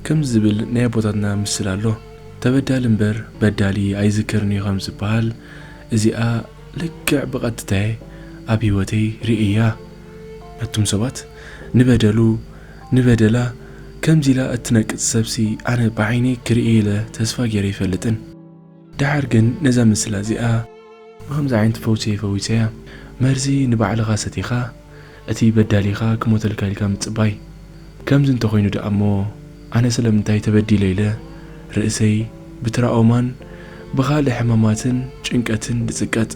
ከምዚ ዝብል ናይ ኣቦታትና ምስል ኣሎ ተበዳሊ እምበር በዳሊ ኣይዝከርን እዩ ከም ዝበሃል እዚኣ ልክዕ ብቐጥታየ ኣብ ህይወተይ ርእያ ነቱም ሰባት ንበደሉ ንበደላ ከምዚ ኢላ እትነቅጽ ሰብሲ ኣነ ብዓይነይ ክርእየ ኢለ ተስፋ ገይረ ኣይፈልጥን ደሓር ግን ነዛ ምስላ እዚኣ ብኸምዚ ዓይነት ፈውሲ ፈዊሰያ። መርዚ ንባዕልኻ ሰቲኻ እቲ በዳሊኻ ክሞተልካ ኢልካ ምጽባይ። ከምዚ እንተኾይኑ ደኣ እሞ ኣነ ስለምንታይ ተበዲለ ኢለ ርእሰይ ብትራኦማን ብኻልእ ሕማማትን ጭንቀትን ድጽቀጥ?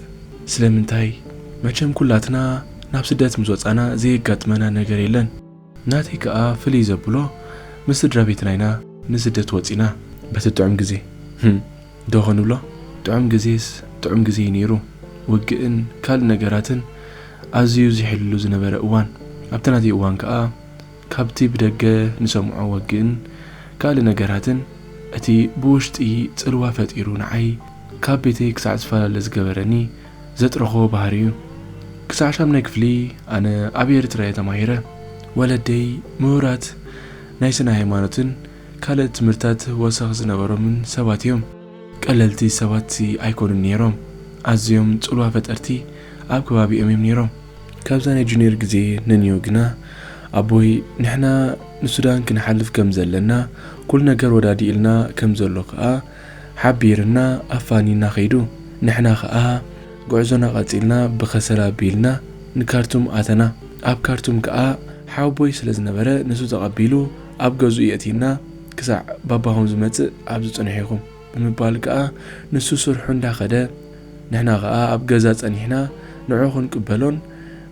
ስለምንታይ? መቸም ኩላትና ናብ ስደት ምስ ወጻና ዘየጋጥመና ነገር የለን። ናተይ ከኣ ፍልይ ዘብሎ ምስ ስድራቤትና ኢና ንስደት ወጺና። በቲ ጥዑም ግዜ ህም ዶ ክንብሎ ጥዑም ግዜስ ጥዑም ግዜ እዩ ኔሩ ውግእን ካልእ ነገራትን ኣዝዩ ዚሕልሉ ዝነበረ እዋን ኣብቲ ናተይ እዋን ከኣ ካብቲ ብደገ ንሰምዖ ወግእን ካልእ ነገራትን እቲ ብውሽጢይ ጽልዋ ፈጢሩ ንዓይ ካብ ቤተይ ክሳዕ ዝፈላለ ዝገበረኒ ዘጥረኾ ባህሪ እዩ ክሳዕ ሻምናይ ክፍሊ ኣነ ኣብ ኤርትራ እየ ተማሂረ ወለደይ ምሁራት ናይ ስነ ሃይማኖትን ካልእ ትምህርታት ወሰኽ ዝነበሮምን ሰባት እዮም ቀለልቲ ሰባት ኣይኮኑን ኔሮም ኣዝዮም ጽልዋ ፈጠርቲ ኣብ ከባቢኦም እዮም ኔሮም ካብዛ ናይ ጁንየር ግዜ ንንዮ ግና ኣቦይ ንሕና ንሱዳን ክንሓልፍ ከም ዘለና ኩሉ ነገር ወዳዲኡልና ከም ዘሎ ከኣ ሓቢርና ኣፋኒና ከይዱ ንሕና ከኣ ጉዕዞና ቀጺልና ብከሰል ኣቢልና ንካርቱም ኣተና ኣብ ካርቱም ከኣ ሓውቦይ ስለ ዝነበረ ንሱ ተቀቢሉ ኣብ ገዝኡ የእቲና ክሳዕ ባባኹም ዝመጽእ ኣብዚ ጽንሑ ኢኹም ብምባል ከኣ ንሱ ስርሑ እንዳ ከደ ንሕና ከኣ ኣብ ገዛ ጸኒሕና ንዑ ክንቅበሎን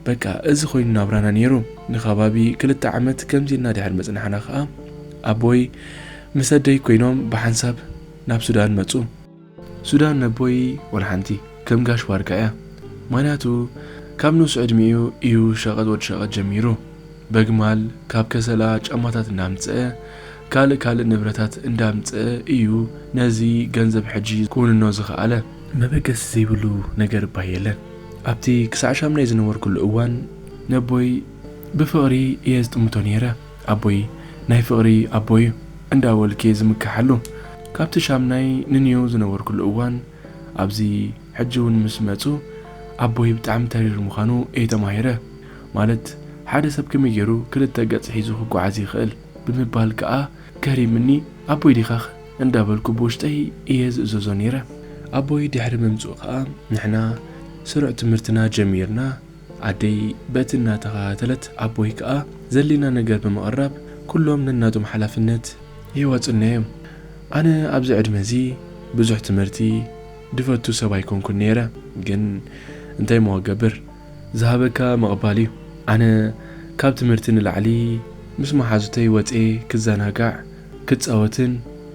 በቃ እዚ ኮይኑ ናብራና ኔሩ ንከባቢ ክልተ ዓመት ከምዚ ኢልና ድሕሪ ምጽናሕና ከኣ ኣቦይ ምስ ኣደይ ኮይኖም ብሓንሳብ ናብ ሱዳን መጹ። ሱዳን ነቦይ ወልሓንቲ ከም ጋሽ ባርካ እያ ምክንያቱ ካብ ንኡስ ዕድሚኡ እዩ ሸቀጥ ወድ ሸቀጥ ጀሚሩ በግማል ካብ ከሰላ ጫማታት እንዳምጸኣ ካልእ ካልእ ንብረታት እንዳምጸኣ እዩ ነዚ ገንዘብ ሕጂ ክውንኖ ዝክኣለ። መበገሲ ዘይብሉ ነገር እባ የለን ኣብቲ ክሳዕ ሻምናይ ዝነበርኩሉ እዋን ነቦይ ብፍቅሪ እየ ዝጥምቶ ኔረ። ኣቦይ ናይ ፍቅሪ ኣቦዩ እንዳ በልኪየ ዝምከሓሉ ካብቲ ሻምናይ ንኒው ዝነበርኩሉ እዋን ኣብዚ ሕጂ ውን ምስ መጹ ኣቦይ ብጣዕሚ ተሪር ምኻኑ እየ ተማሂረ ማለት ሓደ ሰብ ከመይ ጌሩ ክልተ ገጽ ሒዙ ክጓዓዝ ይኽእል ብምባል ክኣ ገሪምኒ ኣቦይ ዲኻኽ እንዳ በልኩ ብውሽጠይ እየ ዝእዘዞ ኔረ ኣቦይ ድሕሪ ምምጽኡ ክኣ ንሕና ስሩዕ ትምህርትና ጀሚርና ኣደይ በቲ እናተኸታተለት ኣቦይ ከኣ ዘድልየና ነገር ብምቕራብ ኩሎም ነናቶም ሓላፍነት ይወጹና እዮም። ኣነ ኣብዚ ዕድመ እዚ ብዙሕ ትምህርቲ ድፈቱ ሰብ ኣይኮንኩን ነይረ ግን እንታይ እሞ ክገብር ዝሃበካ ምቕባል እዩ። ኣነ ካብ ትምህርቲ ንላዕሊ ምስ መሓዙተይ ወጽየ ክዘናጋዕ ክጻወትን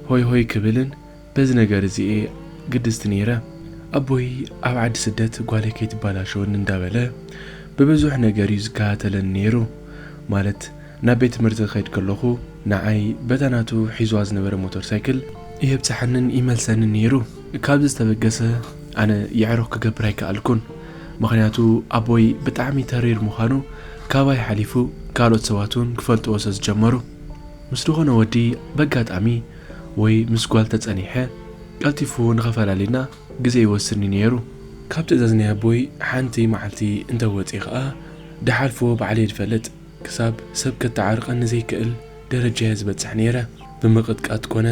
ሆይ ሆይ ክብልን በዚ ነገር እዚ እየ ግድስቲ ነይረ። ኣቦይ ኣብ ዓዲ ስደት ጓለይ ከይትበላሸወኒ እንዳበለ ብብዙሕ ነገር እዩ ዝከታተለኒ ነይሩ። ማለት ናብ ቤት ትምህርቲ ክኸይድ ከለኹ ንዓይ በታ ናቱ ሒዝዋ ዝነበረ ሞተር ሳይክል የብጽሓንን ይመልሰንን ነይሩ። ካብዚ ዝተበገሰ ኣነ የዕሩኽ ክገብር ኣይከኣልኩን። ምኽንያቱ ኣቦይ ብጣዕሚ ተሪር ምዃኑ ካባይ ሓሊፉ ካልኦት ሰባት እውን ክፈልጥዎ ሰለዝጀመሩ። ምስ ዝኾነ ወዲ በጋጣሚ ወይ ምስ ጓል ተጸኒሐ ቀልጢፉ ንኸፈላልየና ግዜ ይወስድኒ ነይሩ። ካብ ትእዛዝ ናይ ኣቦይ ሓንቲ መዓልቲ እንተ ወጺኤ ኸኣ ድሓልፎ ባዕለይ ድፈልጥ። ክሳብ ሰብ ከተዓርቐኒ ዘይክእል ደረጃ'የ ዝበጽሕ ነይረ። ብምቕጥቃጥ ኮነ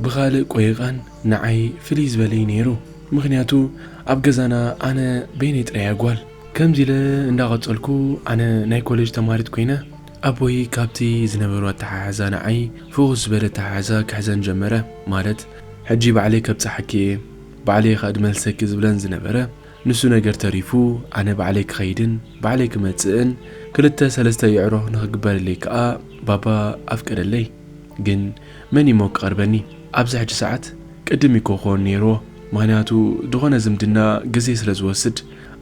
ብኻልእ ቆይቓን ንዓይ ፍልይ ዝበለ'ዩ ነይሩ። ምኽንያቱ ኣብ ገዛና ኣነ በይነይ ጥራይ'የ ጓል። ከምዚ ኢለ እንዳ ቀጸልኩ ኣነ ናይ ኮለጅ ተማሃሪት ኮይነ ኣቦይ ካብቲ ዝነበሮ ኣተሓሕዛ ንዓይ ፍኹስ ዝበለ ኣተሓሕዛ ክሕዘን ጀመረ። ማለት ሕጂ ባዕለይ ከብጽሓኪ እየ፣ ባዕለይ እየ ክመልሰኪ ዝብለን ዝነበረ። ንሱ ነገር ተሪፉ ኣነ ባዕለይ ክኸይድን ባዕለይ ክመጽእን ክልተ ሰለስተ ይዕሮ ንኽግበረለይ ከኣ ባባ ኣፍቀደለይ። ግን መን እዩሞ ክቐርበኒ? ኣብዚ ሕጂ ሰዓት ቅድም እዩ ክኾን ነይርዎ። ምኽንያቱ ዝኾነ ዝምድና ግዜ ስለ ዝወስድ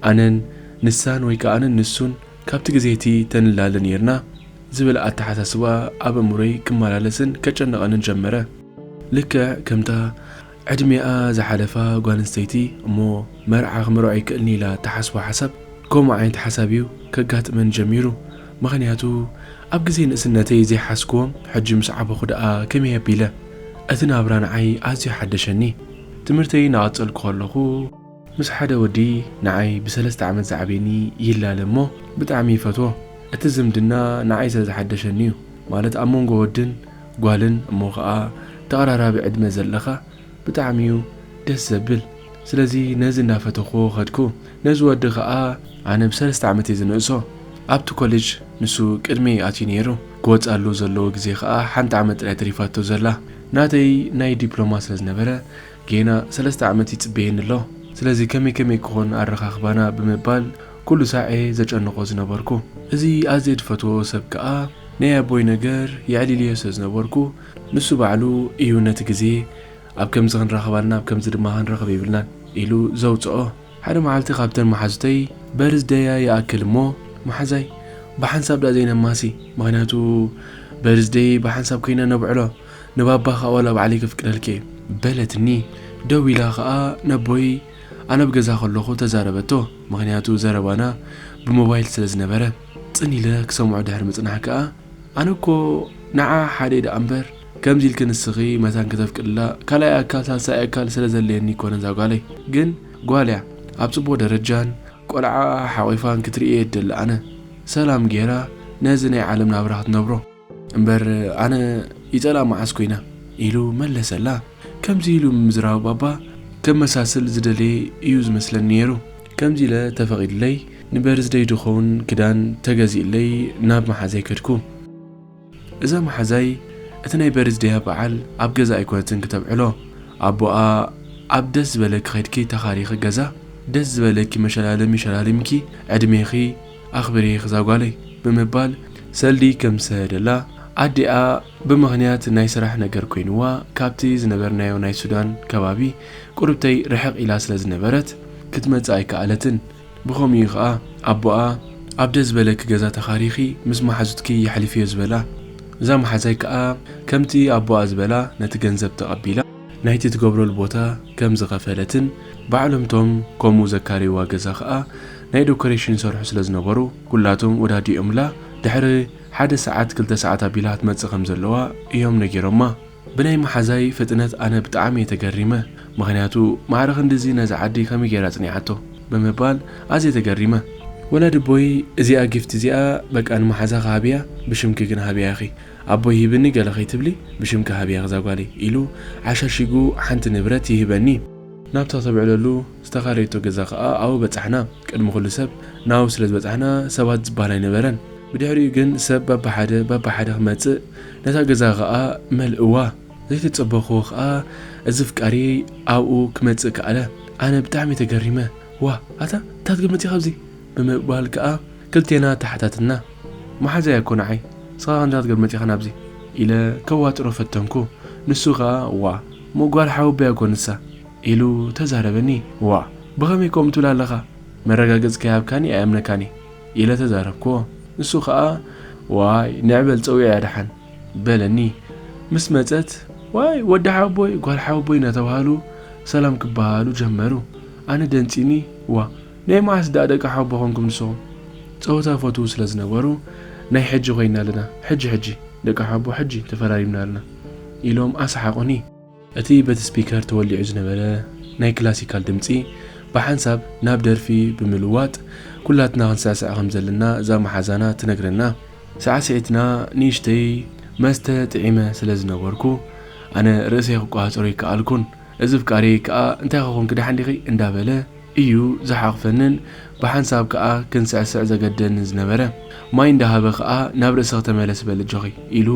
ኣነን ንሳን ወይ ከኣ ኣነን ንሱን ካብቲ ግዜ እቲ ተንላለ ነይርና ዝብል ኣተሓሳስባ ኣብ ኣእምሮይ ክመላለስን ከጨንቐንን ጀመረ። ልክዕ ከምታ ዕድሜኣ ዝሓለፋ ጓል ኣንስተይቲ እሞ መርዓ ክምርዖ ኣይክእልን ኢላ እትሓስቦ ሓሳብ፣ ከምኡ ዓይነት ሓሳብ እዩ ከጋጥመኒ ጀሚሩ። ምኽንያቱ ኣብ ግዜ ንእስነተይ ዘይሓዝክዎ ሕጂ ምስ ዓበኹ ደኣ ከመይ ኣቢለ? እቲ ናብራ ንዓይ ኣዝዩ ሓደሸኒ። ትምህርተይ እናቐጸልኩ ከለኹ፣ ምስ ሓደ ወዲ ንዓይ ብሰለስተ ዓመት ዝዓብየኒ ይላለ እሞ ብጣዕሚ ይፈትዎ እቲ ዝምድና ንዓይ ስለ ዝሓደሸኒ እዩ ማለት ኣብ መንጎ ወድን ጓልን እሞ ከኣ ተቀራራቢ ዕድመ ዘለካ ብጣዕሚ እዩ ደስ ዘብል ስለዚ ነዚ እንዳፈተክዎ ከድኩ ነዚ ወዲ ከኣ ኣነ ብሰለስተ ዓመት እየ ዝንእሶ ኣብቲ ኮሌጅ ንሱ ቅድመይ ኣትዩ ነይሩ ክወጽኣሉ ዘለዎ ግዜ ከኣ ሓንቲ ዓመት ጥራይ ተሪፋቶ ዘላ ናተይ ናይ ዲፕሎማ ስለ ዝነበረ ጌና ሰለስተ ዓመት ይጽበየኒ ኣሎ፣ ስለዚ ከመይ ከመይ ክኾን ኣረኻኽባና ብምባል ኩሉ ሳዕ'የ ዘጨንቖ ዝነበርኩ። እዚ ኣዝየ ዝፈትዎ ሰብ ከኣ ናይ ኣቦይ ነገር የዕሊልዮ ስለ ዝነበርኩ ንሱ ባዕሉ ኢዩ ነቲ ግዜ ኣብ ከምዚ ክንራኸብ ኣልና ኣብ ከምዚ ድማ ክንረኽብ የብልናን ኢሉ ዘውጽኦ። ሓደ መዓልቲ ካብተን መሓዙተይ በርዝ ደያ ይኣክል እሞ መሓዛይ ብሓንሳብ ደኣ ዘይነማሲ ምኽንያቱ በርዝ ደይ ብሓንሳብ ከይና ነብዕሎ፣ ንባባኻ ዋላ ባዕለይ ከፍቅደልኪ እየ። በለትኒ። ደው ኢላ ከኣ ነቦይ ኣነ ኣብ ገዛ ከለኹ ተዛረበቶ፣ ምኽንያቱ ዘረባና ብሞባይል ስለ ዝነበረ። ጽን ኢለ ክሰምዖ ድሕሪ ምጽናሕ ከኣ። ኣነ እኮ ንዓ ሓደይ ደኣ እምበር ከምዚ ኢልኪ ንስኺ መታን ከተፍቅድላ ካልኣይ ኣካል ሳልሳይ ኣካል ስለ ዘድልየኒ ኣይኮነን እዛ ጓለይ ግን ጓል እያ ኣብ ጽቡቕ ደረጃን ቆልዓኣ ሓቚፋን ክትርኢ እየ ዝደሊ ኣነ። ሰላም ገይራ ነዚ ናይ ዓለም ናብራ ክትነብሮ። እምበር ኣነ ይጸላ መዓስ ኮይና ኢሉ መለሰላ። ከምዚ ኢሉ ምዝራብ ባባ ከመሳስል ዝደለየ እዩ ዝመስለኒ ነይሩ። ከምዚ ኢለ ተፈቒድለይ ንበርዝደይ ድኸውን ክዳን ተገዚእለይ ናብ መሓዛይ ከድኩ። እዛ መሓዛይ እቲ ናይ በርዝደያ በዓል ኣብ ገዛ ኣይኮነትን ክተብዕሎ። ኣቦኣ ኣብ ደስ ዝበለኪ ከድኪ ተኻሪኺ ገዛ ደስ ዝበለኪ መሸላለሚ ሸላሊምኪ ዕድሜኺ ኣኽብሬኽ ዛጓለይ ብምባል ሰልዲ ከም ዝሰደደላ ኣዲኣ ብምኽንያት ናይ ስራሕ ነገር ኮይንዋ ካብቲ ዝነበርናዮ ናይ ሱዳን ከባቢ ቁርብተይ ርሕቕ ኢላ ስለ ዝነበረት ክትመጽእ ኣይከኣለትን ብኸምኡ'ዩ ከኣ ኣቦኣ ኣብ ደስ ዝበለኪ ገዛ ተኻሪኺ ምስ መሓዙትኪ የሕልፍዮ ዝበላ እዛ መሓዛይ ከኣ ከምቲ ኣቦኣ ዝበላ ነቲ ገንዘብ ተቐቢላ ናይቲ ትገብረሉ ቦታ ከም ዝኸፈለትን ባዕሎም እቶም ከምኡ ዘካረይዋ ገዛ ከኣ ናይ ደኮሬሽን ይሰርሑ ስለ ዝነበሩ ኩላቶም ወዳዲኦምላ ድሕሪ ሓደ ሰዓት ክልተ ሰዓት ኣቢላ ክትመጽእ ከም ዘለዋ እዮም ነጊሮማ። ብናይ መሓዛይ ፍጥነት ኣነ ብጣዕሚ እየ ተገሪመ ምኽንያቱ ማዕረ ክንድዚ ነዛ ዓዲ ከመይ ጌራ ኣጽኒዓቶ ብምባል ኣዝየ ተገሪመ። ወላዲ ኣቦይ እዚኣ ጊፍቲ እዚኣ በቃ ንመሓዛኺ ሃብያ ብሽምኪ ግን ሃብያ ኢኺ ኣቦይ ሂብኒ ገለ ከይትብሊ ብሽምኪ ሃብያ ክዛ ጓለይ ኢሉ ዓሻሺጉ ሓንቲ ንብረት ይህበኒ። ናብታ ተብዕለሉ ዝተኻረየቶ ገዛ ከኣ ኣብኡ በጻሕና። ቅድሚ ኩሉ ሰብ ናብኡ ስለ ዝበጻሕና ሰባት ዝበሃል ኣይነበረን። ብድሕሪኡ ግን ሰብ በብሓደ በብሓደ ክመጽእ ነታ ገዛ ከኣ መልእዋ። ዘይተጸበኽዎ ከኣ እዚ ፍቃርየይ ኣብኡ ክመጽእ ከኣለ። ኣነ ብጣዕሚ ተገሪመ ዋእ ኣታ እንታይ ትግምት ኢኺ ኣብዚ ብምባል ከኣ ክልቴና ተሓታትትና፣ መሓዛይ ኣኮ ንዓይ፣ ንስኻ ከምዚ ክትገብር መጺኻ ናብዚ? ኢለ ከዋጥሮ ፈተንኩ። ንሱ ከኣ ዋእ! እሞ ጓል ሓወቦይ ኣኮ ንሳ! ኢሉ ተዛረበኒ። ዋእ! ብኸመይ ከምኡ ትብል ኣለኻ? መረጋገጺ ከይሃብካኒ ኣይኣምነካን እየ። ኢለ ተዛረብኩዎ። ንሱ ከኣ ዋይ! ንዒ በል ጸውዒያ ደሓን! በለኒ። ምስ መጸት ዋይ! ወዲ ሓወቦይ ጓል ሓወቦይ እናተባህሉ ሰላም ክበሃሃሉ ጀመሩ። ኣነ ደንጺዩኒ ዋእ! ናይ መዓስ ደኣ ደቂ ሓውቦ ኮንኩም ንስኹም። ጸወታ ይፈትዉ ስለ ዝነበሩ ናይ ሕጂ ኮይና ኣለና ሕጂ ሕጂ ደቂ ሓውቦ ሕጂ ተፈራሪምና ኣለና ኢሎም ኣሰሓቑኒ። እቲ በቲ ስፒከር ተወሊዑ ዝነበረ ናይ ክላሲካል ድምጺ ብሓንሳብ ናብ ደርፊ ብምልዋጥ ኩላትና ክንስዕስዕ ከም ዘለና እዛ መሓዛና ትነግረና። ሳዕስዒትና ንእሽተይ መስተ ጥዒመ ስለ ዝነበርኩ ኣነ ርእሰይ ክቆጻጸሮ ኣይከኣልኩን። እዚ ፍቃሪየይ ከኣ እንታይከ ኮንኪ ደሓን ዲኺ እንዳበለ እዩ ዝሓቕፈንን ብሓንሳብ ከኣ ክንስዕስዕ ዘገድደንን ዝነበረ። ማይ እንዳሃበ ከኣ ናብ ርእስኺ ተመለሲ በሊ ኣጆኺ ኢሉ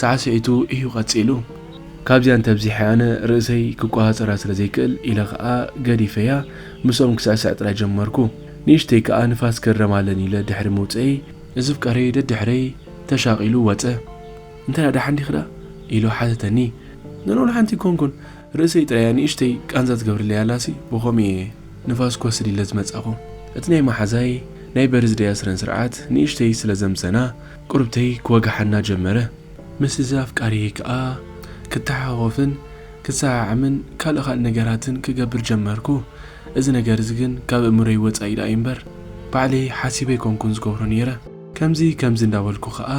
ሳዕስዒቱ እዩ ቀጺሉ። ካብዚኣ እንተብዚሐ ኣነ ርእሰይ ክቆጻጸራ ስለ ዘይክእል ኢለ ከኣ ገዲፈያ ምስኦም ክስዕስዕ ጥራይ ጀመርኩ። ንእሽተይ ከኣ ንፋስ ክረም ኣለኒ ኢለ ድሕሪ ምውጸኤይ እዚ ፍቃሪየይ ደድሕረይ ተሻቒሉ ወጸ። እንታይ እያ ደሓን ዲኺ ደኣ? ኢሉ ሓተተኒ። ገና ወላ ሓንቲ ኣይኮንኩን፣ ርእሰይ ጥራይ እያ ንእሽተይ ቃንዛ ትገብረለይ ኣላሲ፣ ብኸምኡ እየ ንፋስ ክወስድ ኢለ ዝመጻኹ። እቲ ናይ መሓዛይ ናይ በርዝደይ ኣስረንስርዓት ንእሽተይ ስለ ዘምሰና፣ ቁርብተይ ክወግሓና ጀመረ። ምስዚ ኣፍቃሪየይ ከኣ ክተሓኾኾፍን ክሰዓዓምን ካልእ ካልእ ነገራትን ክገብር ጀመርኩ። እዚ ነገር'ዚ ግን ካብ ኣእምሮይ ወጻኢ ደኣ እዩ'ምበር፣ ባዕለይ ሓሲበ ኣይኮንኩን ዝገብሮ ነይረ። ከምዚ ከምዚ እንዳበልኩ ከኣ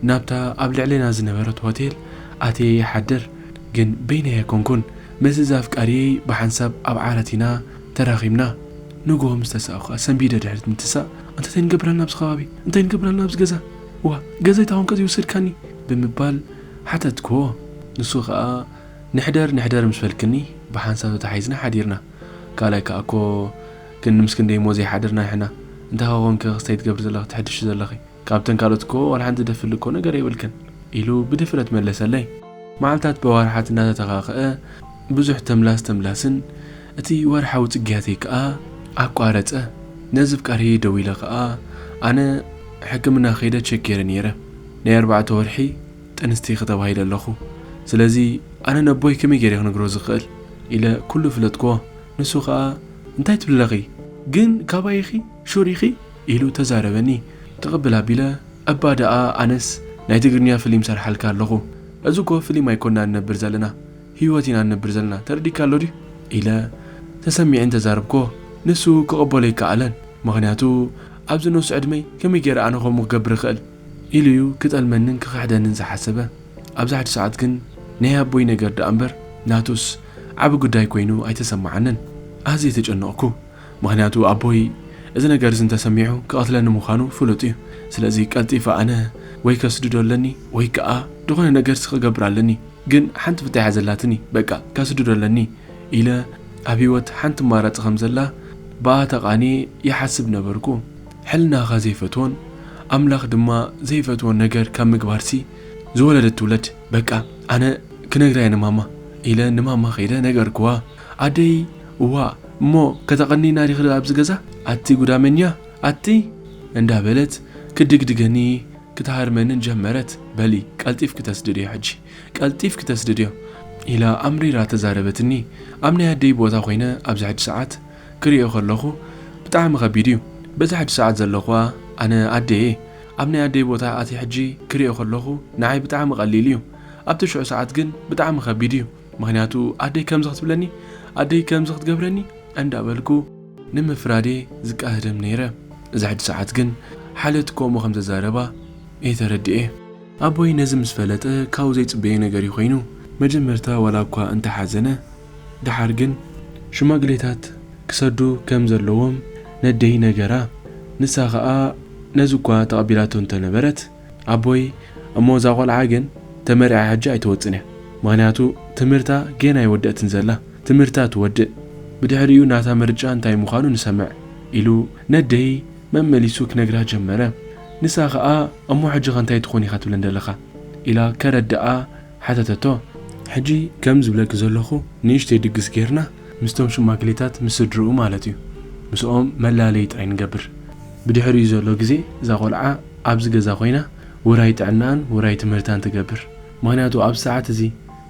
ናብታ ኣብ ልዕሌና ዝነበረት ሆቴል ኣትየ ይሓድር። ግን በይነይ ኣይኮንኩን፣ ምስ'ዛ ኣፍቃሪየይ ብሓንሳብ ኣብ ዓራት ኢና ተራኺብና። ንግሆ ምስ ተሳእኩ ከኣ ሰንቢደ ድሕሪት ምትሳእ፣ ኣንታ እንታይ ንገብር ኣለና ኣብዚ ከባቢ? እንታይ ንገብር ኣለና ኣብዚ ገዛ? ዋእ ገዛይ ተኾንከ ዘይወሰድካኒ? ብምባል ሓተትክዎ። ንሱ ከኣ ንሕደር ንሕደር ምስ በልክኒ ብሓንሳብ ተታሓሒዝና ሓዲርና። ካልኣይ ከኣ እኮ። ግን ምስ ክንደይ እሞ ዘይሓድር ናይሕና እንታይ ኾኾንኪ ክስተይ ትገብሪ ዘለኺ ትሕድሺ ዘለኺ ካብተን ካልኦት እኮ ዋላ ሓንቲ ደፍሊ እኮ ነገር የብልክን ኢሉ ብድፍረት መለሰለይ መዓልታት በዋርሓት እናተተኻኸኣ ብዙሕ ተምላስ ተምላስን እቲ ወርሓዊ ጽግያተይ ከኣ ኣቋረጸ ነዚ ፍቃርየይ ደዊለ ከኣ ኣነ ሕክምና ከይደ ቸክ ጌረ ኔረ ናይ ኣርባዕተ ወርሒ ጥንስቲኪ ተባሂለ ኣለኹ ስለዚ ኣነ ነቦይ ከመይ ጌረ ክነግሮ ዝኽእል ኢለ ኩሉ ፍለጥክዎ ንሱ ከኣ እንታይ ትብሊ ኣለኺ ግን ካባይ ኢኺ ሹር ኢኺ ኢሉ ተዛረበኒ ትቅብል ኣቢለ እባ ደኣ ኣነስ ናይ ትግርኛ ፍሊም ሰርሓልካ ኣለኹ እዚ እኮ ፍሊም ኣይኮናን ንነብር ዘለና ሂወት ኢና ንነብር ዘለና ተረዲካ ኣሎ ድዩ ኢለ ተሰሚዐ እንተ ዛረብኩዎ ንሱ ክቅበሎ ኣይከኣለን ምኽንያቱ ኣብዚ ንኡስ ዕድመይ ከመይ ጌረ ኣነ ከምኡ ክገብር ይኽእል ኢሉ እዩ ክጠልመንን ክኽሕደንን ዝሓሰበ። ኣብዚ ሓዲ ሰዓት ግን ናይ ኣቦይ ነገር ደኣ እምበር ናቱስ ዓቢ ጉዳይ ኮይኑ ኣይተሰማዓንን። ኣዝየ ተጨነቕኩ። ምኽንያቱ ኣቦይ እዚ ነገር እዚ እንተሰሚዑ ክቐትለኒ ምዃኑ ፍሉጥ እዩ። ስለዚ ቀልጢፈ ኣነ ወይ ከስድዶ ኣለኒ ወይ ከኣ ዝኾነ ነገርሲ ክገብር ኣለኒ። ግን ሓንቲ ፍታሕ እያ ዘላትኒ በቃ ከስድዶ ኣለኒ ኢለ ኣብ ህይወት ሓንቲ ኣማራጺ ከም ዘላ ብኣ ተቓንየ ይሓስብ ነበርኩ። ሕልናኻ ዘይፈትዎን ኣምላኽ ድማ ዘይፈትዎ ነገር ካብ ምግባርሲ ዝወለደት ትውለድ በቃ ኣነ ክነግራየ ንማማ ኢለ ንማማ ከይደ ነገርክዋ ኣደይ እዋእ እሞ ከተቐኒና ዲኺ ኣብዚ ገዛ ኣቲ ጉዳመኛ ኣቲ እንዳበለት ክትድግድገኒ ክትሃርመንን ጀመረት በሊ ቀልጢፍኪ ተስድድዮ ሕጂ ቀልጢፍኪ ተስድድዮ ኢላ ኣምሪራ ተዛረበትኒ ኣብ ናይ ኣደይ ቦታ ኮይነ ኣብዚ ሕጂ ሰዓት ክሪኦ ከለኹ ብጣዕሚ ከቢድ እዩ በዚ ሕጂ ሰዓት ዘለኹዋ ኣነ ኣደየ ኣብ ናይ ኣደይ ቦታ ኣትየ ሕጂ ክሪኦ ከለኩ ንዓይ ብጣዕሚ ቀሊል እዩ ኣብቲ ሽዑ ሰዓት ግን ብጣዕሚ ከቢድ እዩ ምክንያቱ ኣደይ ከምዚ ክትብለኒ ኣደይ ከምዚ ክትገብረኒ እንዳበልኩ ንምፍራድየ ዝቃህደም ነይረ እዚ ሕጂ ሰዓት ግን ሓልዮት ከምኡ ከምዘዛረባ እየ ተረዲኤ። ኣቦይ ነዚ ምስ ፈለጠ ካብኡ ዘይጽበዮ ነገር እዩ ኮይኑ መጀመርታ ዋላ እኳ እንተ ሓዘነ ደሓር ግን ሽማግሌታት ክሰዱ ከም ዘለዎም ነደይ ነገራ። ንሳ ከኣ ነዚ እኳ ተቐቢላቶ እንተ ነበረት፣ ኣቦይ እሞ እዛ ቈልዓ ግን ተመርዕያ ሕጂ ኣይትወጽእን እያ፣ ምኽንያቱ ትምህርታ ጌና ኣይወደእትን ዘላ፣ ትምህርታ ትወድእ፣ ብድሕሪኡ ናታ ምርጫ እንታይ ምዃኑ ንሰምዕ፣ ኢሉ ነደይ መመሊሱ ክነግራ ጀመረ። ንሳ ከኣ እሞ ሕጂኸ እንታይ ትኾን ኢኻ ትብለን ደለኻ? ኢላ ከረድኣ። ሓተተቶ። ሕጂ ከም ዝብለኪ ዘለኹ ንእሽተይ ድግስ ጌርና ምስቶም ሽማግሌታት ምስ ስድርኡ ማለት እዩ ምስኦም መላለዪ ጥራይ ንገብር። ብድሕሪኡ ዘሎ ግዜ እዛ ቆልዓ ኣብዚ ገዛ ኮይና ውራይ ጥዕናኣን ውራይ ትምህርታን ትገብር ምኽንያቱ ኣብዚ ሰዓት እዚ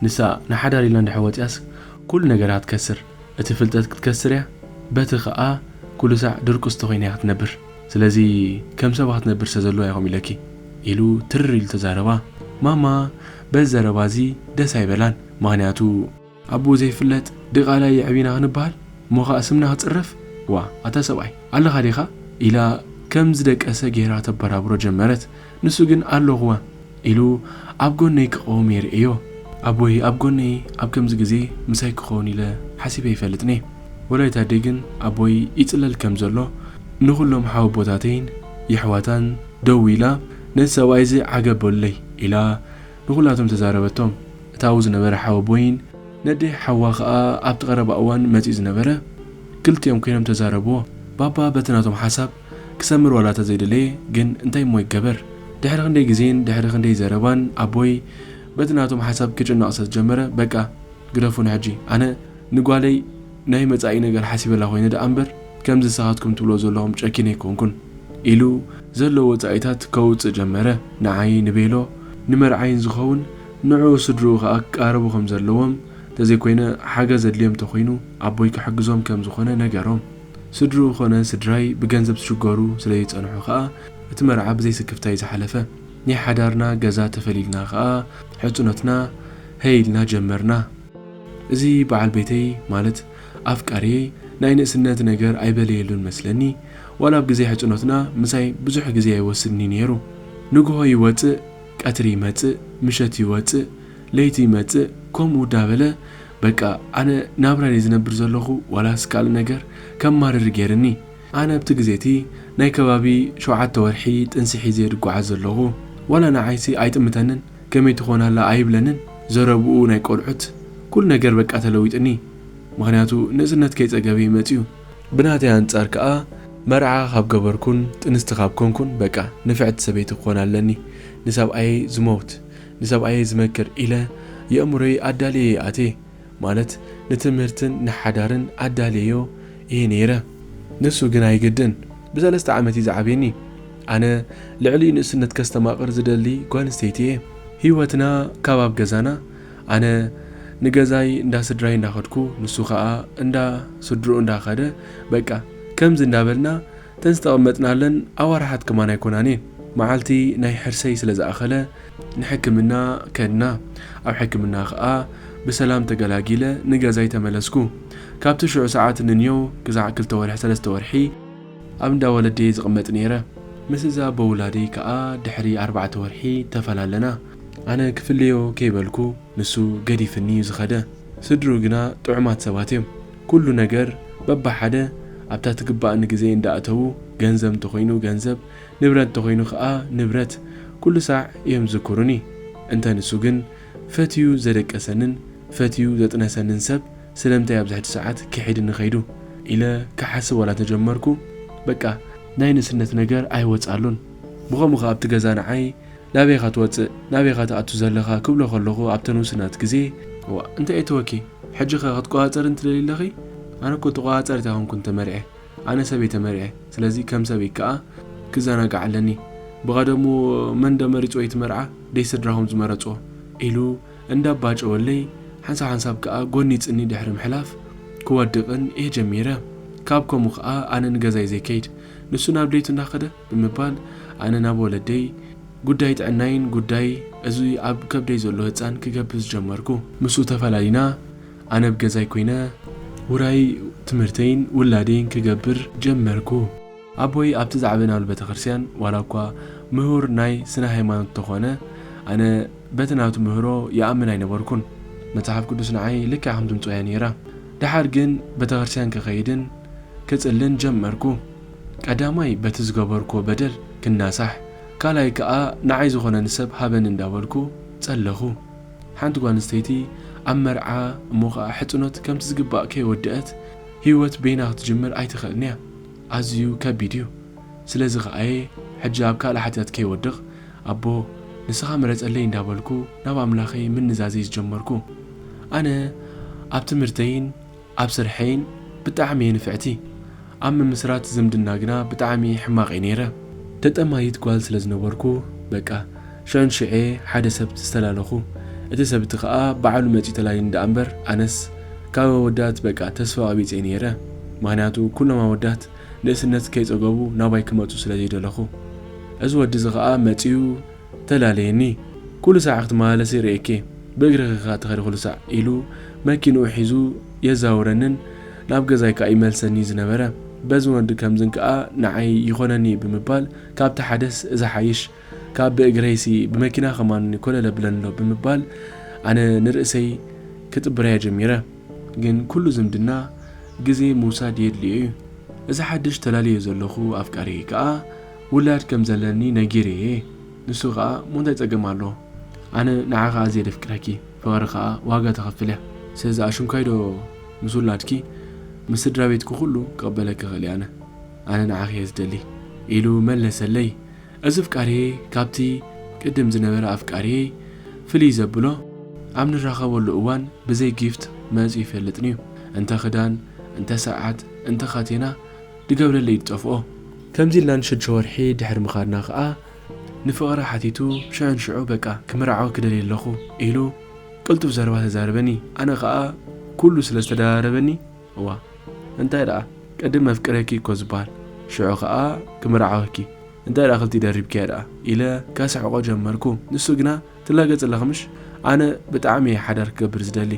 ንሳ ንሓዳር ኢላ እንድሕር ወጺኣስ ኩሉ ነገራ ክትከስር እቲ ፍልጠት ክትከስር እያ በቲ ከኣ ኩሉ ሳዕ ድርቁስቲ ኮይና እያ ክትነብር። ስለዚ ከም ሰባ ክትነብር ስለ ዘለዋ ኢኹም ኢለኪ ኢሉ ትርር ኢሉ ተዛረባ። ማማ በዚ ዘረባ እዚ ደስ ኣይበላን ምኽንያቱ። ኣቡኡ ዘይፍለጥ ድቓላ የዕቢና ክንበሃል እሞ ከኣ ስምና ክጽረፍ ዋእ ኣታ ሰብኣይ ኣለኻ ዲኻ ኢላ ከም ዝደቀሰ ጌራ ተበራብሮ ጀመረት። ንሱ ግን ኣሎኹወ ኢሉ ኣብ ጎነይ ክቐውም እየ ርእየዮ። ኣቦይ ኣብ ጎነይ ኣብ ከምዚ ግዜ ምሳይ ክኸውን ኢለ ሓሲበ ኣይፈልጥን እየ። ወላዲት ኣደይ ግን ኣቦይ ይጽለል ከም ዘሎ ንኹሎም ሓወቦታተይን የሕዋታን ደዊላ ነቲ ሰብኣይ እዚ ዓገብ በሉለይ ኢላ ንኹላቶም ተዛረበቶም። እቲ ኣብኡ ዝነበረ ሓወቦይን ነደይ ሓዋ ከኣ ኣብቲ ቀረባ እዋን መጺኡ ዝነበረ ክልቲኦም ኮይኖም ተዛረብዎ። ባባ በቲ ናቶም ሓሳብ ክሰምር ዋላ ተዘይደለየ ግን እንታይ እሞ ይገበር ድሕሪ ክንደይ ግዜን ድሕሪ ክንደይ ዘረባን ኣቦይ በቲ ናቶም ሓሳብ ክጭነቕ ሰዝጀመረ በቃ ግደፉኒ ሕጂ ኣነ ንጓለይ ናይ መጻኢ ነገር ሓሲበላ ኮይነ ደኣ እምበር ከምዚ ንስኻትኩም ትብልዎ ዘለኹም ጨኪነ ኣይኮንኩን ኢሉ ዘለዎ ወጻኢታት ከውጽእ ጀመረ ንዓይ ንቤሎ ንመርዓይን ዝኸውን ንዕኡ ስድርኡ ከኣ ክቃረቡ ከምዘለዎም ተዘይኮይነ ሓገዝ ዘድልዮም ተኾይኑ ኣቦይ ክሕግዞም ከምዝኾነ ነገሮም። ስድርኡ ኮነ ስድራይ ብገንዘብ ዝሽገሩ ስለ ዝጸንሑ ከኣ እቲ መርዓ ብዘይ ስክፍታ እዩ ዝሓለፈ። ናይ ሓዳርና ገዛ ተፈሊልና ከኣ ሕጹነትና ሀይ ኢልና ጀመርና። እዚ በዓል ቤተይ ማለት ኣፍቃርየይ ናይ ንእስነት ነገር ኣይበለየሉን መስለኒ ዋላ ኣብ ግዜ ሕጹኖትና ምሳይ ብዙሕ ግዜ ኣይወስድን እዩ ነይሩ። ንግሆ ይወጽእ ቀትሪ ይመጽእ ምሸት ይወጽእ ለይቲ ይመጽእ ከምኡ ዳበለ በቃ ኣነ ናብራይ እየ ዝነብር ዘለኹ ዋላስ ካልእ ነገር ከማርር ገይርኒ ኣነ ኣብቲ ግዜ እቲ ናይ ከባቢ ሸውዓተ ወርሒ ጥንሲ ሒዘ እየ ድጓዓዝ ዘለኹ ዋላ ንዓይሲ ኣይጥምተንን ከመይ ትኾን ኣላ ኣይብለንን ዘረብኡ ናይ ቆልዑት ኩሉ ነገር በቃ ተለዊጥኒ ምኽንያቱ ንእስነት ከይጸገበ እዩ መጺኡ ብናተይ ኣንጻር ከኣ መርዓ ካብ ገበርኩን ጥንስቲ ካብ ኮንኩን በቃ ንፍዕቲ ሰበይቲ ክኾን ኣለኒ ንሰብኣየይ ዝመውት ንሰብኣየይ ዝመክር ኢለ የእምሮይ ኣዳልየዮ ኣትየ፣ ማለት ንትምህርትን ንሓዳርን ኣዳልየዮ እየ ነይረ። ንሱ ግን ኣይግድን፣ ብሰለስተ ዓመት እዩ ዝዓብየኒ። ኣነ ልዕሊኡ ንእስነት ከስተማቕር ዝደሊ ጓልንስተይቲ እየ። ህይወትና ካብ ኣብ ገዛና፣ ኣነ ንገዛይ እንዳ ስድራይ እንዳኸድኩ ንሱ ከኣ እንዳ ስድርኡ እንዳኸደ፣ በቃ ከምዚ እንዳበልና እተን ዝተቐመጥናለን ኣዋርሓት ከማን ኣይኮናን እየን። መዓልቲ ናይ ሕርሰይ ስለ ዝኣኸለ፣ ንሕክምና ከድና። ኣብ ሕክምና ከኣ ብሰላም ተገላጊለ ንገዛይ ተመለስኩ። ካብቲ ሽዑ ሰዓት ንንዮው ክሳዕ ክልተ ወርሒ ሰለስተ ወርሒ ኣብ እንዳ ወለደይ ዝቕመጥ ነይረ። ምስ እዛ ኣቦ ውላደይ ከኣ ድሕሪ ኣርባዕተ ወርሒ ተፈላለና። ኣነ ክፍለዮ ከይበልኩ ንሱ ገዲፍኒ'ዩ ዝኸደ። ስድርኡ ግና ጥዑማት ሰባት'ዮም። ኩሉ ነገር በብሓደ ኣብታ ትግብኣኒ ግዜ እንዳእተዉ ገንዘብ እንተኾይኑ ገንዘብ፣ ንብረት እንተኾይኑ ከኣ ንብረት ኩሉ ሳዕ እዮም ዝዝክሩኒ። እንተ ንሱ ግን ፈትዩ ዘደቀሰንን ፈትዩ ዘጥነሰንን ሰብ ስለምንታይ ኣብዚ ሕጂ ሰዓት ክሒድኒ ከይዱ ኢለ ክሓስብ ዋላ እንተጀመርኩ በቃ ናይ ንእስነት ነገር ኣይወጽኣሉን። ብኸምኡ ከኣ ኣብቲ ገዛ ንዓይ ናበይ ኢኻ ትወጽእ ናበይ ኢኻ ትኣቱ ዘለኻ ክብሎ ከለኹ ኣብተን ውስናት ግዜ፣ እዋእ እንታይ እተወኪ ሕጂኸ ክትቆጻጸርኒ ትደልዪ ኣለኺ ኣነኮ ተቆጻጻሪት ኣይኮንኩን ተመርዕየ። ኣነ ሰብ እየ ተመሪዐ ስለዚ ከም ሰብ እይ ክኣ ክዛናጋዕ ኣለኒ ብቀደሙ መን ዶ መሪጽዎ እዩ እቲ መርዓ ደይ ስድራኩም ዝመረጽዎ ኢሉ እንዳ ባጨወለይ ሓንሳብ ሓንሳብ ክኣ ጎኒጽኒ ድሕሪ ምሕላፍ ክወድቅን እየ ጀሚረ ካብ ከምኡ ክኣ ኣነ ንገዛይ ዘይ ከይድ ንሱ ናብ ደይቱ እንዳ ከደ ብምባል ኣነ ናብ ወለደይ ጉዳይ ጥዕናይን ጉዳይ እዚ ኣብ ከብደይ ዘሎ ህጻን ክገብዝ ጀመርኩ። ምስኡ ተፈላሊና ኣነ ኣብ ገዛይ ኮይነ ውራይ ትምህርተይን ውላደይን ክገብር ጀመርኩ። ኣቦይ ኣብቲ ዝዓበናሉ ቤተክርስቲያን ዋላ እኳ ምሁር ናይ ስነ-ሃይማኖት እንተኾነ ኣነ በቲ ናቱ ምህሮ ይኣምን ኣይነበርኩን። መጽሓፍ ቅዱስ ንዓይ ልክዕ ከም ድምጹ እያ ነይራ። ደሓር ግን ቤተክርስቲያን ክኸይድን ክጽልን ጀመርኩ። ቀዳማይ በቲ ዝገበርኩዎ በደል ክናሳሕ ካልኣይ ከኣ ንዓይ ዝኾነኒ ሰብ ሃበኒ እንዳበልኩ ጸለኹ። ሓንቲ ጓል ኣንስተይቲ ኣብ መርዓ እሞ ኸኣ ሕጽኖት ከምቲ ዝግባእ ከይወደኣት ህይወት በይና ክትጅምር ኣይትኽእልን እያ። ኣዝዩ ከቢድ እዩ። ስለዚ ኸኣ እየ ሕጂ ኣብ ካልእ ሓጢኣት ከይወድቕ ኣቦ ንስኻ ምረጸለይ እንዳበልኩ ናብ ኣምላኸይ ምንዛዘይ ዝጀመርኩ። ኣነ ኣብ ትምህርተይን፣ ኣብ ስርሐይን ብጣዕሚ እየ ንፍዕቲ ኣብ ምምስራት ዝምድና ግና ብጣዕሚ ሕማቅ እየ ነይረ። ተጠማይት ጓል ስለ ዝነበርኩ በቃ ሽዑን ሽዔ ሓደ ሰብ ዝተላለኹ እቲ ሰብ እቲ ከኣ ባዕሉ መጺኡ ተላልዩኒ ደኣ እምበር ኣነስ ካብ ኣወዳት በቃ ተስፋ ቀቢጸ እየ ነይረ ምክንያቱ ኩሎም ኣወዳት ንእስነት ከይጸገቡ ናባይ ክመጹ ስለ ዘይደለኹ እዚ ወዲ እዚ ከኣ መጺኡ ተላለየኒ ኩሉ ሳዕ ክትመላለሲ ርእየኪ ብእግርኺ ከኣ ትኸዲ ኩሉ ሳዕ ኢሉ መኪንኡ ሒዙ የዛውረንን ናብ ገዛይ ከኣ ይመልሰኒ ዝነበረ በዝን ወዲ ከምዝን ከኣ ንዓይ ይኾነኒ ብምባል ካብቲ ሓደስ ዝሓይሽ ካብ ብእግረይሲ ብመኪና ከማን ኮለል ኣብለንሎ ብምባል ኣነ ንርእሰይ ክጥብረያ ጀሚረ ግን ኩሉ ዝምድና ግዜ ምውሳድ የድልዮ እዩ እዚ ሓድሽ ተላልዮ ዘለኹ ኣፍቃሪይ ከኣ ውላድ ከም ዘለኒ ነጊርየ ንሱ ከኣ እሞ እንታይ ጸገም ኣለዎ ኣነ ንዓኺ ኣዝየ ደፍቅረኪ ፍቅሪ ከኣ ዋጋ ተኽፍልያ ስለዚ ኣሽንኳይ ዶ ምስ ውላድኪ ምስ ስድራቤትኪ ኩሉ ክቅበለኪ እኽእል እየ ኣነ ኣነ ንዓኺ እየ ዝደሊ ኢሉ መለሰለይ እዚ ኣፍቃርየይ ካብቲ ቅድም ዝነበረ ኣፍቃርየይ ፍልይ ዘብሎ ኣብ ንራኸበሉ እዋን ብዘይ ጊፍት መጽዩ ይፈልጥንዩ እንተ ክዳን እንተ ሰዓት እንተ ካቴና ድገብረለይ ድጠፍኦ። ከምዚ ኢልና ንሸድሸ ወርሒ ድሕሪ ምኻድና ከኣ ንፍቕረ ሓቲቱ ሽዑ ንሽዑ በቃ ክምርዓው ክደሊ ኣለኹ ኢሉ ቅልጡፍ ዘረባ ተዛረበኒ ኣነ ከኣ ኩሉ ስለ ዝተደራረበኒ እዋ እንታይ ደኣ ቅድም መፍቅሬኪ እኮ ዝብሃል ሽዑ ከኣ ክምርዓወኪ እንታይ ደኣ ክልቲኡ ደሪብክያ ደኣ ኢለ ከስሕቖ ጀመርኩ ንሱ ግና ትላገጽለኺ ምሽ? ኣነ ብጣዕሚ እየ ሓዳር ክገብር ዝደሊ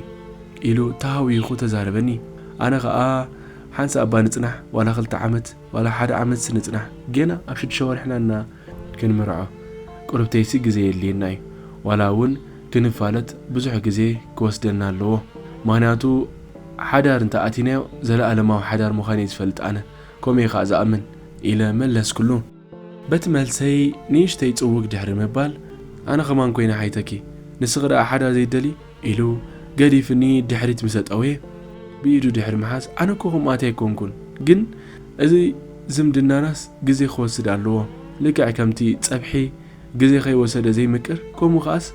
ኢሉ ተሃዊኹ ተዛረበኒ። ኣነ ከኣ ሓንሳእ እባ ንጽናሕ ዋላ ክልተ ዓመት ዋላ ሓደ ዓመትሲ ንጽናሕ ጌና ኣብ ሽዱሽተ ወርሕና እና ክንምርዖ ቁርብተይሲ ግዜ የድልየና እዩ ዋላ እውን ክንፋለጥ ብዙሕ ግዜ ክወስደና ኣለዎ ምኽንያቱ ሓዳር እንተ ኣቲናዮ ዘለኣለማዊ ሓዳር ምዃነይ ዝፈልጥ ኣነ ከምኡ እየ ከኣ ዝኣምን ኢለ መለስኩሉ። በቲ መልሰይ ንእሽተይ ጽውግ ድሕሪ ምባል፣ ኣነ ከማን ኮይነ ሓይተኪ፣ ንስኺ ደኣ ሓዳር ዘይትደልዪ? ኢሉ ገዲፍኒ ድሕሪት ምሰ ጠውየ፣ ብኢዱ ድሕሪ ምሓዝ፣ ኣነ እኮ ከምኣቲ ኣይኮንኩን፣ ግን እዚ ዝምድናናስ ግዜ ክወስድ ኣለዎ፣ ልክዕ ከምቲ ጸብሒ ግዜ ከይወሰደ ዘይምቅር፣ ከምኡ ከኣስ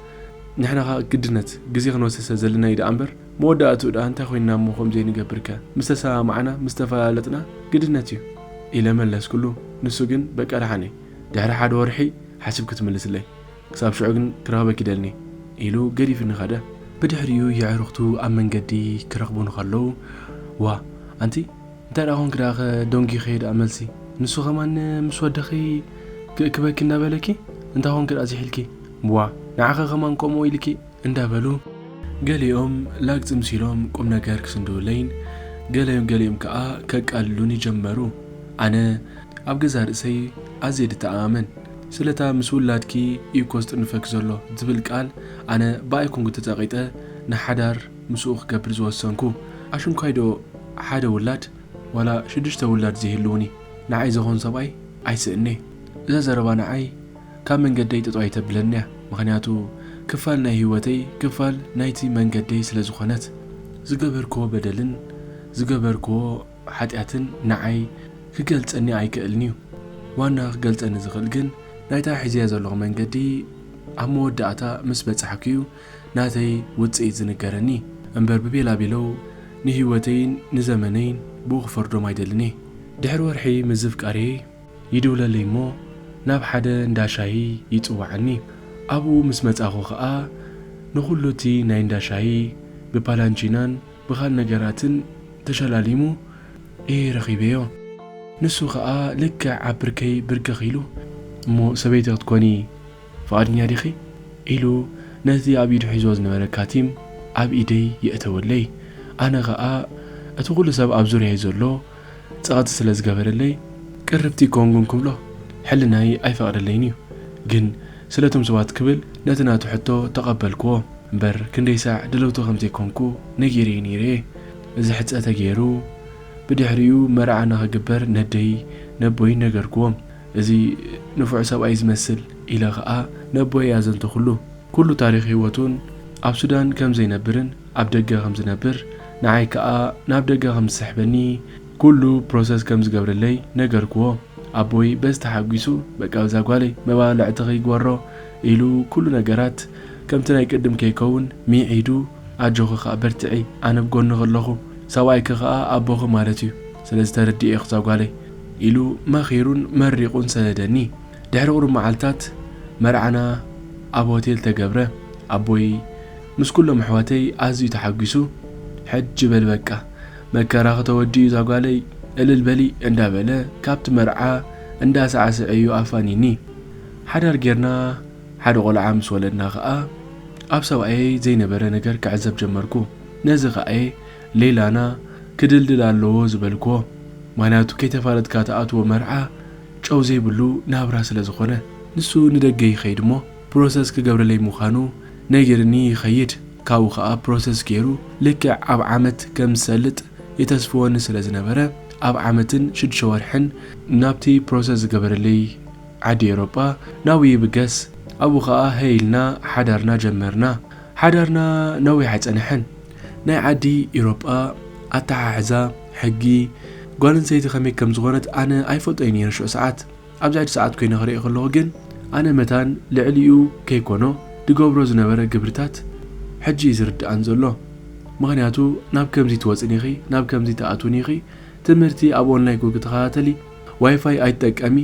ንሕናኻ ግድነት ግዜ ክንወስድ ስለ ዘለና'ዩ ደኣምበር፣ መወዳእትኡ ድኣ እንታይ ኮይንና እሞ ከምዘይንገብርከ ምስ ተሰማማዕና ምስ ተፈላለጥና ግድነት እዩ ኢለ መለስኩሉ ንሱ ግን በቃ ድሓን እየ ድሕሪ ሓደ ወርሒ ሓሲብ ክትምልስለይ ክሳብ ሽዑ ግን ክረኽበኪ ይደልኒ ኢሉ ገዲፍኒ ከደ። ብድሕሪኡ የዕሩኽቱ ኣብ መንገዲ ክረኽቡኒ ከለው ዋእ ኣንቲ እንታይ ድኣ ኮንኪ ድኣ ከ ደንጊኺ ድኣ መልሲ ንሱ ከማን ምስ ወድኺ ክእክበኪ እንዳበለኪ እንታይ ኮንኪ ድኣ ዝሒልኪ ዋእ ንዓኺ ከማን ከምኡ ኢልኪ እንዳበሉ ገሊኦም ላግ ጽምስ ኢሎም ቁምነገር ክስንድውለይን ገለ ገሊኦም ከኣ ከቃልሉኒ ጀመሩ። ኣነ ኣብ ገዛእ ርእሰይ ኣዝየ ድተኣማመን ስለታ ምስ ውላድኪ ኢዩኮ ዝጥንፈኪ ዘሎ ዝብል ቃል ኣነ ብኣይ ኮንኩ ተጸቂጠ ንሓዳር ምስኡ ክገብር ዝወሰንኩ። ኣሽንኳይዶ ሓደ ውላድ ዋላ ሽዱሽተ ውላድ ዘይህልዉኒ ንዓይ ዘኾን ሰብኣይ ኣይስእን'የ እዛ ዘረባ ንዓይ። ካብ መንገደይ ጥጦ ኣይተብለኒ እያ ምኽንያቱ ክፋል ናይ ህይወተይ ክፋል ናይቲ መንገደይ ስለ ዝኾነት። ዝገበርክዎ በደልን ዝገበርክዎ ሓጢኣትን ንዓይ ክገልጸኒ ኣይክእልን እዩ ዋና ክገልጸኒ ዝኽእል ግን ናይታ ሒዘያ ዘለኹ መንገዲ ኣብ መወዳእታ ምስ በጻሕኩ እዩ ናተይ ውጽኢት ዝንገረኒ እምበር ብቤላቤለው ንህይወተይን ንዘመነይን ብኡ ክፈርዶም ኣይደልን እየ ድሕሪ ወርሒ ምዝፍቃርየይ ይድውለለይ እሞ ናብ ሓደ እንዳ ሻሂ ይጽውዓኒ ኣብኡ ምስ መጻኹ ከኣ ንኹሉ እቲ ናይ እንዳ ሻሂ ብፓላንቺናን ብኻል ነገራትን ተሸላሊሙ እየ ረኺበዮ ንሱ ከኣ ልክዕ ኣብ ብርከይ ብርክኽ ኢሉ እሞ ሰበይቲ ክትኮኒ ፍቓድኛ ዲኺ ኢሉ ነቲ ኣብ ኢዱ ሒዝዎ ዝነበረ ካቲም ኣብ ኢደይ የእተወለይ ኣነ ከኣ እቲ ኩሉ ሰብ ኣብ ዙርያይ ዘሎ ጸቕጢ ስለ ዝገበረለይ ቅርብቲ ኮንጉ እንክብሎ ሕልናይ ኣይፈቕደለይን እዩ ግን ስለቶም ሰባት ክብል ነቲ ናቱ ሕቶ ተቐበልክዎ እምበር ክንደይ ሳዕ ድልውቲ ከም ዘይኮንኩ ነጊረዮ ነይረ እየ እዚ ሕጸ ተገይሩ ብድሕሪኡ መርዓ ንኽግበር ነደይ ነቦይን ነገርክዎም እዚ ንፉዕ ሰብኣይ ዝመስል ኢለ ከኣ ነቦይ ኣዘንተኹሉ ኩሉ ታሪኽ ሂወቱን ኣብ ሱዳን ከም ዘይነብርን ኣብ ደገ ከም ዝነብር ንዓይ ክኣ ናብ ደገ ከም ዝስሕበኒ ኩሉ ፕሮሰስ ከም ዝገብረለይ ነገርክዎ ኣቦይ በዚ ተሓጒሱ በቃ በዛ ጓለይ መባልዕትኺ ይግበሮ ኢሉ ኩሉ ነገራት ከምቲ ናይ ቅድም ከይከውን ሚዒዱ ኣጆኺ ክኣ በርትዒ ኣነ ብ ጎንኺ ኣለኹ ሰብኣይኪ ክኣ ኣቦኺ ማለት እዩ ስለዚ ተረዲኤኪ እዛ ጓለይ ኢሉ መኺሩን መሪቑን ሰደደኒ ድሕሪ ቁሩብ መዓልታት መርዓና ኣብ ሆቴል ተገብረ ኣቦይ ምስ ኩሎም ኣሕዋተይ ኣዝዩ ተሓጒሱ ሕጂ በል በቃ መከራኺ ተወዲኡ ዛጓለይ እልል በሊ እንዳ በለ ካብቲ መርዓ እንዳ ሳዕስዐ እዩ ኣፋኒኒ ሓዳር ጌርና ሓደ ቆልዓ ምስ ወለድና ከኣ ኣብ ሰብኣየይ ዘይነበረ ነገር ክዕዘብ ጀመርኩ ነዚ ከኣ እየ ሌላና ክድልድል ኣለዎ ዝበልክዎ ምኽንያቱ ከይተፋለጥካ ትኣትዎ መርዓ ጨው ዘይብሉ ናብራ ስለ ዝኾነ ንሱ ንደገ ይኸይድ እሞ ፕሮሰስ ክገብረለይ ምዃኑ ነጊርኒ ይኸይድ። ካብኡ ከኣ ፕሮሰስ ገይሩ ልክዕ ኣብ ዓመት ከም ዝሰልጥ የተስፍወኒ ስለ ዝነበረ ኣብ ዓመትን ሽዱሽተ ወርሕን ናብቲ ፕሮሰስ ዝገበረለይ ዓዲ ኤውሮጳ ናብኡ ይብገስ። ኣብኡ ከኣ ሀይ ኢልና ሓዳርና ጀመርና። ሓዳርና ነዊሕ ኣይጸንሐን። ናይ ዓዲ ኤውሮጳ ኣተሓሕዛ፣ ሕጊ፣ ጓል ኣንስተይቲ ከመይ ከም ዝኾነት ኣነ ኣይፈልጦይ ነይረ ሽዑ ሰዓት። ኣብዛይድ ሰዓት ኮይነ ክሪኦ ከለኩ ግን ኣነ መታን ልዕሊኡ ከይኮኖ ድገብሮ ዝነበረ ግብርታት ሕጂ እዩ ዝርደኣን ዘሎ ምክንያቱ ናብ ከምዚ ትወጽን ኢኪ ናብ ከምዚ ትኣትውን ኢኪ ትምህርቲ ኣብ ኦንላይ ክተከታተሊ ዋይፋይ ኣይትጠቀሚ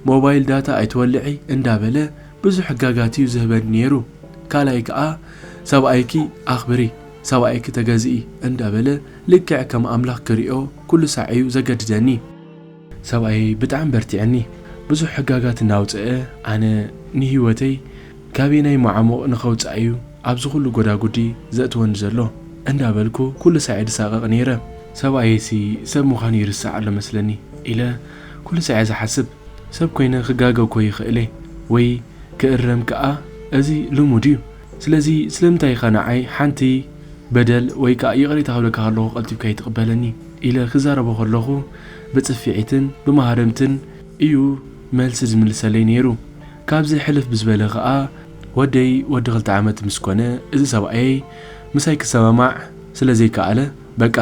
ሞባይል ዳታ ኣይትወልዒ እንዳበለ ብዙሕ ሕጋጋት እዩ ዝህበኒ ነይሩ ካልኣይ ከኣ ሰብኣይኪ ኣክብሪ ሰብኣይኪ ተገዝኢ እንዳበለ ልክዕ ከም ኣምላክ ክሪኦ ኩሉ ሳዕ እዩ ዘገድደኒ ሰብኣየይ ብጣዕሚ በርቲዐኒ ብዙሕ ሕጋጋት እናውፀኣ ኣነ ንሂወተይ ካበየናይ ማዓሙቕ ንኸውፃእ እዩ ኣብዚ ኹሉ ጎዳጉዲ ዘእትወኒ ዘሎ እንዳበልኩ ኩሉ ሳዔ ድሳቐቕ ነይረ። ሰብኣየይሲ ሰብ ምዃኑ ይርስዕ ኣሎ መስለኒ ኢለ ኩሉ ሳዔ ዝሓስብ ሰብ ኮይነ ክጋገ እኮ ይኽእለ ወይ ክእረም ክኣ እዚ ልሙድ እዩ ስለዚ ስለምንታይ ኢኻ ንዓይ ሓንቲ በደል ወይ ክኣ ይቕሬታ ክብለካ ከለኹ ቀልጢፍካ ኣይትቕበለኒ ኢለ ክዛረቦ ከለኹ ብጽፊዒትን ብማህረምትን እዩ መልሲ ዝምልሰለይ ነይሩ። ካብዚ ሕልፍ ብዝበለ ከኣ ወደይ ወዲ ክልተ ዓመት ምስ ኮነ እዚ ሰብኣየይ ምሳይ ክሰማማዕ ስለ ዘይከኣለ በቃ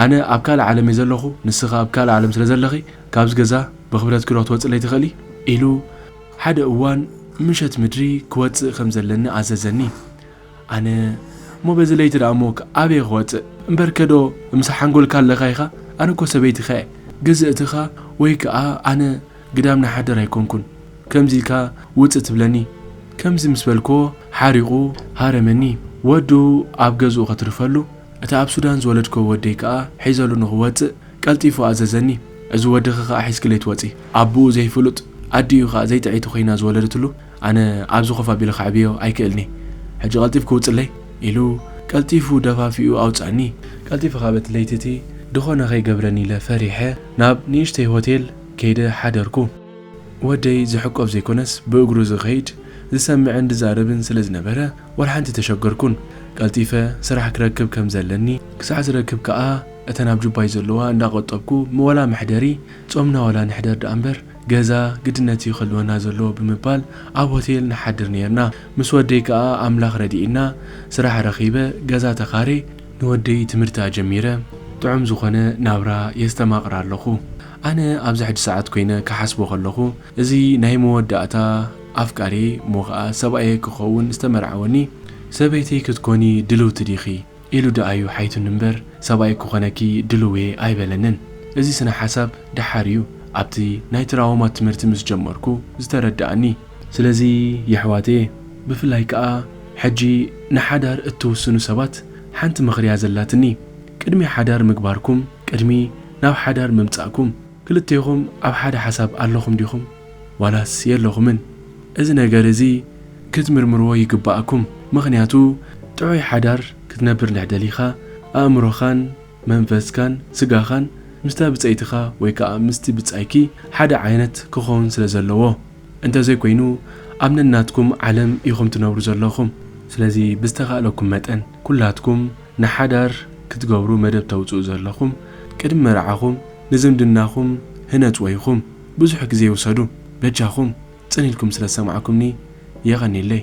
ኣነ ኣብ ካልእ ዓለም እየ ዘለኹ ንስኺ ኣብ ካልእ ዓለም ስለ ዘለኺ ካብዚ ገዛ ብኽብረትኪ ዶ ክትወጽለይ ትኽእሊ ኢሉ ሓደ እዋን ምሸት ምድሪ ክወጽእ ከም ዘለኒ ኣዘዘኒ። ኣነ እሞ በዚ ለይቲ ደኣ እሞ ኣበይ ክወጽእ እምበርከ ዶ ምሰ ሓንጎልካ ኣለካ ኢካ ኣነ እኮ ሰበይትካ እየ ግዝእትካ ወይ ከኣ ኣነ ግዳም ናይ ሓዳር ኣይኮንኩን ከምዚ ኢልካ ውጽእ ትብለኒ ከምዚ ምስ በልክዎ ሓሪቁ ሃረመኒ ወዱ ኣብ ገዝኡ ከትርፈሉ እቲ ኣብ ሱዳን ዝወለድክዎ ወደይ ከኣ ሒዘሉ ንክወጽእ ቀልጢፉ ኣዘዘኒ እዚ ወድኪ ከኣ ሒዝኪለይ ትወጺ ኣቡኡ ዘይፍሉጥ ኣዲኡ ከኣ ዘይጥዕይቲ ኮይና ዝወለደትሉ ኣነ ኣብዚ ኮፍ ኣቢለ ከዕብዮ ኣይክእልን'የ፣ ሕጂ ቀልጢፍኪ ውጽለይ፣ ኢሉ ቀልጢፉ ደፋፊኡ ኣውጽኣኒ። ቀልጢፈ ካበት ለይቲ እቲ ድኾነ ከይገብረኒ ኢለ ፈሪሐ ናብ ንእሽተይ ሆቴል ከይደ ሓደርኩ። ወደይ ዝሕቆፍ ዘይኮነስ ብእግሩ ዝኸይድ፣ ዝሰምዕን ዝዛረብን ስለ ዝነበረ ዋላ ሓንቲ ተሸገርኩን። ቀልጢፈ ስራሕ ክረክብ ከም ዘለኒ ክሳዕ ዝረክብ ከኣ እተን ኣብ ጁባይ ዘለዋ እንዳቆጠብኩ ዋላ መሕደሪ ጾምና ዋላ ንሕደር ደኣምበር ገዛ ግድነት'ዩ ክህልወና ዘለዎ ብምባል ኣብ ሆቴል ንሓድር ኔርና። ምስ ወደይ ከኣ ኣምላኽ ረዲእና ስራሕ ረኺበ ገዛ ተኻርየ ንወደይ ትምህርቲ ኣጀሚረ ጥዑም ዝኾነ ናብራ የስተማቕር ኣለኹ። ኣነ ኣብዚ ሕጂ ሰዓት ኮይነ ክሓስቦ ከለኹ እዚ ናይ መወዳእታ ኣፍቃርየይ እሞ ከኣ ሰብኣየይ ክኸውን ዝተመርዓወኒ ሰበይተይ ክትኮኒ ድልውቲ ዲኺ? ኢሉ ድኣዩ ሓይቱኒ እምበር ሰብኣይ ክኾነኪ ድልውየ ኣይበለንን። እዚ ስነ ሓሳብ ድሓር እዩ ኣብቲ ናይ ትራዎማ ትምህርቲ ምስ ጀመርኩ ዝተረድኣኒ። ስለዚ የሕዋተየ ብፍላይ ክኣ ሕጂ ንሓዳር እትውስኑ ሰባት ሓንቲ ምኽሪያ ዘላትኒ ቅድሚ ሓዳር ምግባርኩም ቅድሚ ናብ ሓዳር ምምጻእኩም ክልቴኹም ኣብ ሓደ ሓሳብ ኣለኹም ዲኹም? ዋላስ የለኹምን እዚ ነገር እዚ ክትምርምርዎ ይግበኣኩም ምኽንያቱ ጥዑይ ሓዳር ክትነብር እንድሕ ደሊኻ ኣእምሮኻን መንፈስካን ስጋኻን ምስታ ብጸይትኻ ወይ ከኣ ምስቲ ብጻይኪ ሓደ ዓይነት ክኾን ስለ ዘለዎ እንተዘይ ኮይኑ ኣብ ነናትኩም ዓለም ኢኹም ትነብሩ ዘለኹም ስለዚ ብዝተኻእለኩም መጠን ኩላትኩም ንሓዳር ክትገብሩ መደብ ተውጽኡ ዘለኹም ቅድሚ መርዓኹም ንዝምድናኹም ህነጽዎ ኢኹም። ብዙሕ ግዜ ውሰዱ በጃኹም ጽን ኢልኩም ስለ ዝሰማዕኩምኒ የቐንየለይ።